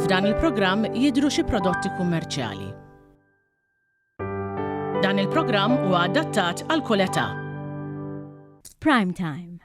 F'dan il-programm jidhru xi prodotti kummerċjali. Dan il-programm huwa adattat għal kull età. Prime Time.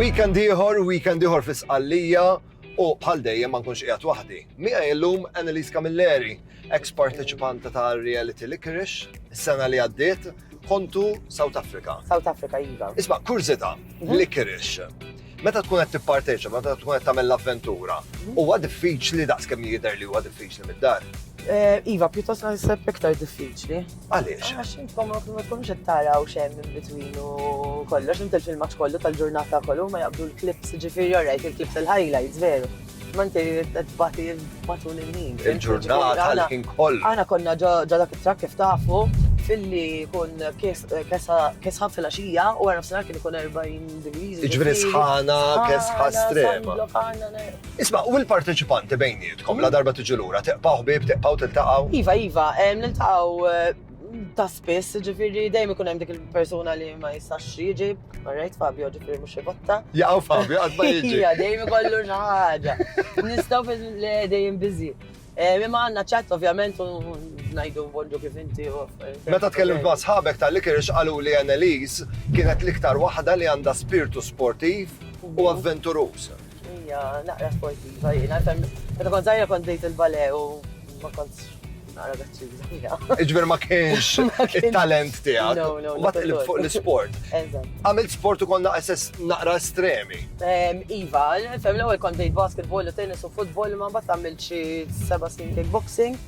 Weekend ieħor, weekend ieħor fi Sqallija u bħal dejjem ma nkunx qiegħed waħdi. Mija illum Annalise Camilleri, ex parteċipanta ta' Reality Licorice, is-sena li għaddiet, Kontu South Africa. South Africa, iva. Isma, kurzita, mhm. li kirix. Meta tkun qed tipparteċa, meta tkun qed tagħmel l-avventura, mhm. huwa diffiċli daqs kemm jidher li huwa diffiċli mid-dar. Eh, iva, pjuttost naħseb iktar diffiċli. Għaliex? Għax intkom ma tkunx qed taraw xejn minn between u kollox, int il-filmat kollu tal-ġurnata kollu ma jaqbdu l-klips, ġifieri orajt il-klips il-highlights veru. Ma inti tbati matul il-ħin. Il-ġurnata l-ħin kollu. Aħna konna ġo dak it-trak kif tafu filli kun kesħa fil-axija u għarna f-sena kien kun 40 degrees. Iġveri sħana, kesħa strema. Isma, u l-parteċipanti bejnietkom, la darba tiġi l-ura, teqpaw bib, teqpaw tiltaqaw? Iva, iva, niltaqaw eh, ta' spiss, ġifiri, dejjem ikun hemm dik il-persuna li ma jistax jiġi, marrejt Fabio, ġifiri mhux ivotta. Jaqgħu Fabio qatt ma jiġi. Ija, dejjem ikollu xi ħaġa. Nistgħu fil le dejjem biżi. Eh, imma għandna ċat ovvjament u ngħidu bonġu kif inti u. Meta tkellimt ma' sħabek tal-likir xqalu li Annelies kienet l-iktar waħda li għandha spirtu sportiv u avventuruż. Ija, naqra sportiva jiena, meta kont żgħira kont dejt il-bale u ma kontx naqra gazzuża fija. Iġver ma kienx il-talent tiegħek. No, no, ma tqlib fuq l-sport. Għamilt sport u konna SS naqra estremi. Iva, fem l-ewwel kont dejt basketball u tennis u football ma mbagħad għamilt xi seba' snin kickboxing.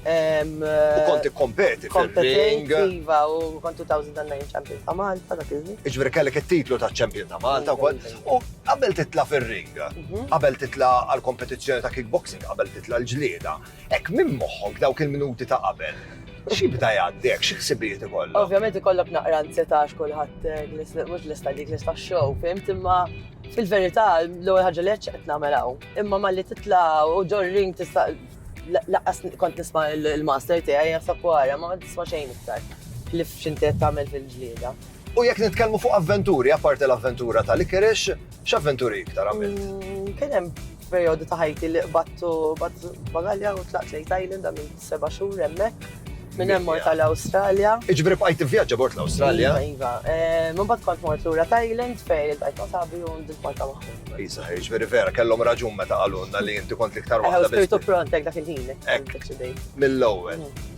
U konti kompeti fil-ring. Iva, u kont 2009 champion ta' Malta dak iż-żmien. Iġveri kellek it-titlu ta' champion ta' Malta u kont. U qabel titla fil-ring, mhm. qabel titla għal-kompetizzjoni ta' kickboxing, qabel titla l-ġlieda, Hekk minn moħħok dawk il-minuti ta' qabel, x'jibda jgħaddek, xi ħsibijiet ikollok? Ovvjament ikollok naqra ansjetà għax kulħadd eh, mhux lista dik lista show, fimt imma fil-verità l-ewwel ħaġa li qed nagħmel hawn. Imma malli titla' u ġor ring tista' laqqas kont nisma' il-master tiegħi jasab wara ma tisma' xejn iktar li f'xinti qed tagħmel fil-ġlieda. U jekk nitkellmu fuq avventuri, apparti l-avventura tal-Ikerix, x'avventuri iktar għamilt? Mm, kien hemm Perjodu ta' ħajti li qbadtu bagalja u tlaqt lejn Thailand għamil seba' xhur hemmhekk. Minn hemm mort għal Awstralja. Iġbri bqajt tivvjaġġa bort l-Awstralja. Iva, iva. Eh, minn bad kont mort lura Thailand fejn il-tajt ma' sabi u ndil Malta magħhom. Isa, iġbri vera, kellhom raġun meta qalulna li inti kont l-iktar waħda. Eħe, spirtu prontek dak il-ħin. Ekk, mill-ewwel. Mm.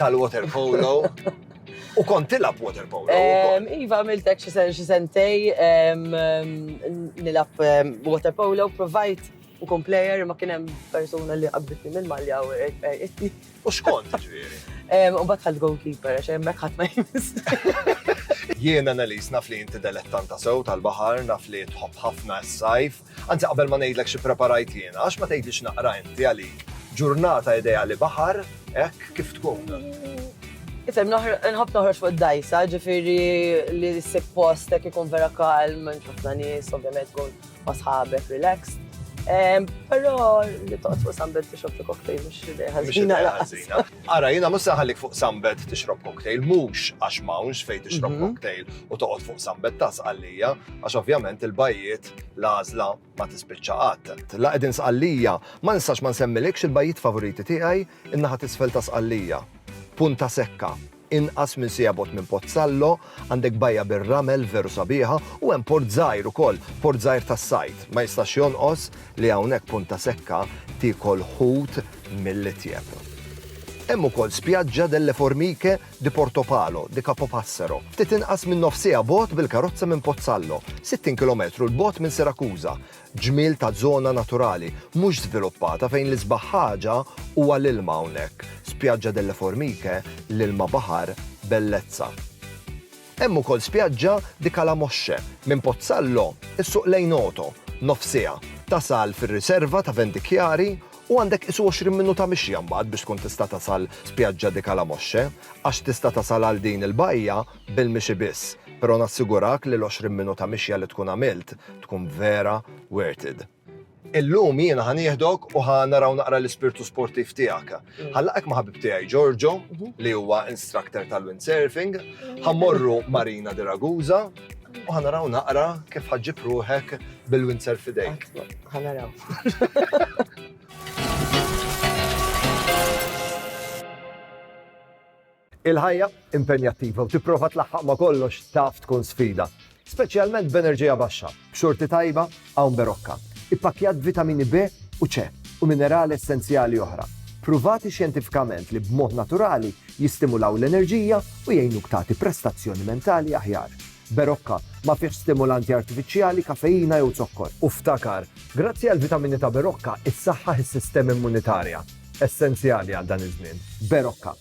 tal-water polo. U kont tilab water polo. Iva, għamiltek xi sentej nilab water polo, provajt u kom player ma kienem persona li qabbitni minn malja u jitni. U xkont ġviri? U bat ħad goalkeeper, għax jemmek ħad ma jimis. Jien analis naf li jinti delettanta sew tal-bahar, naf li tħobb ħafna s-sajf. Anzi qabel ma ngħidlek xi preparajt jiena, għax ma tgħidlix naqra inti għalik ġurnata ideali baħar hekk kif tkun? Ifhem, nħobb noħroġ fuq id-dajsa, ġifieri li ssib post hekk ikun vera kalm, minn ħafna nies, ovvjament tkun ma' sħabek, relax. Però li toqgħod fuq sambet tixrob xi cocktail mhux idea ħażina. Ara, jiena mhux se ħallik fuq sambet tixrob cocktail, mhux għax m'hawnx fejn tixrob mhm. cocktail u toqgħod fuq sambet tas għalija, għax ovvjament il-bajjiet L-għażla ma tispiċċa qatt. La qegħdin Sqallija, ma nistax ma nsemmilekx il-bajjiet favoriti tiegħi, in-naħa t'isfel ta' Sqallija. Punta Secca, inqas minn siegħa bogħod minn Pozzallo, għandek bajja bir-ramel veru sabiħa u hemm port żgħir ukoll, port żgħir tas-sajd. Ma jistax jonqos li hawnhekk Punta Secca tiekol ħut mill-itjeb. Hemm ukoll Spiaggia delle Formiche di Portopalo, di Capopassero, ftit inqas minn nofs siegħa bogħod bil-karozza minn Pozzallo, 60 kilometru 'l bogħod minn Sirakuża. Ġmiel ta' żona naturali, mhux żviluppata fejn l-isbaħ ħaġa huwa l-ilma hawnhekk, Spiaggia delle Formiche, l-ilma baħar, bellezza. Hemm ukoll spjaġġa di Calamoche, minn Pozzallo ssuq lejn Oto, nofs siegħa, tasal fir-riserva ta' Venti Chiari u għandek qisu 20 minuta mixja mbagħad biex tkun tista' tasal spjaġġa di Calamoche, għax tista' tasal għal din il-bajja bil-mixi biss, pero nassigurak li l-20 minuta mixja li tkun għamilt tkun vera worth it. Illum jiena ħa nieħdok u ħa naraw naqra l-ispirtu sportiv tiegħek. Ħallaqek ma' ħabib tiegħi Giorgio, li huwa instructor tal-windsurfing, ħa morru Marina de Ragusa u ħa naraw naqra kif ħaġġib ruħek bil-windsurf fidejk. Ħa naraw. Il-ħajja impenjattiva u tipprova tlaħħaq ma' kollox taf tkun sfida, speċjalment b'enerġija baxxa, b'xorti tajba hawn berokka, ippakkjat b'vitamini B u C u minerali essenzjali oħra, pruvati xjentifikament li b'mod naturali jistimulaw l-enerġija u jgħinuk tagħti prestazzjoni mentali aħjar. Berokka ma fihx stimulanti artifiċjali, kafeina jew zokkor. U ftakar, grazzi għall-vitamini ta' Berokka, issaħħaħ is-sistema immunitarja, essenzjali għal dan iż-żmien. Berokka.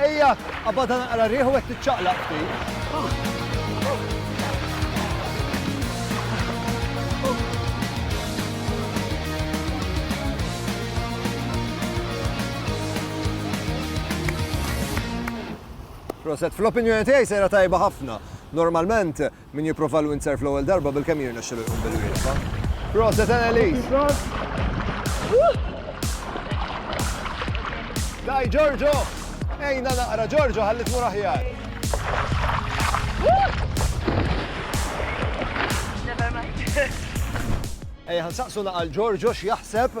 Ejja, qabadha naqra r-riħ u hekk tiċċaqlaq ftit. Proset, fl-opinjoni tiegħi sejra tajba ħafna. Normalment Min jipprova l-windsurf l-ewwel darba bilkemm jirnexxilu jqum bil-wieqfa. Proset Annelies! Daj Giorgio! Ejna naqra Giorgio ħalli tmur aħjar. Ejja ħansaqsu naqal Giorgio x'jaħseb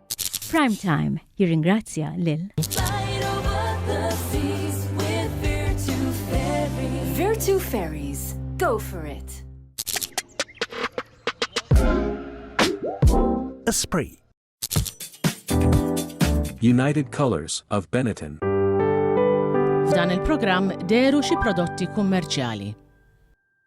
Prime Time jirringrazzja lil Virtu Ferries, go for it! Esprit United Colors of Benetton. F'dan il-programm deru xi prodotti kummerċjali.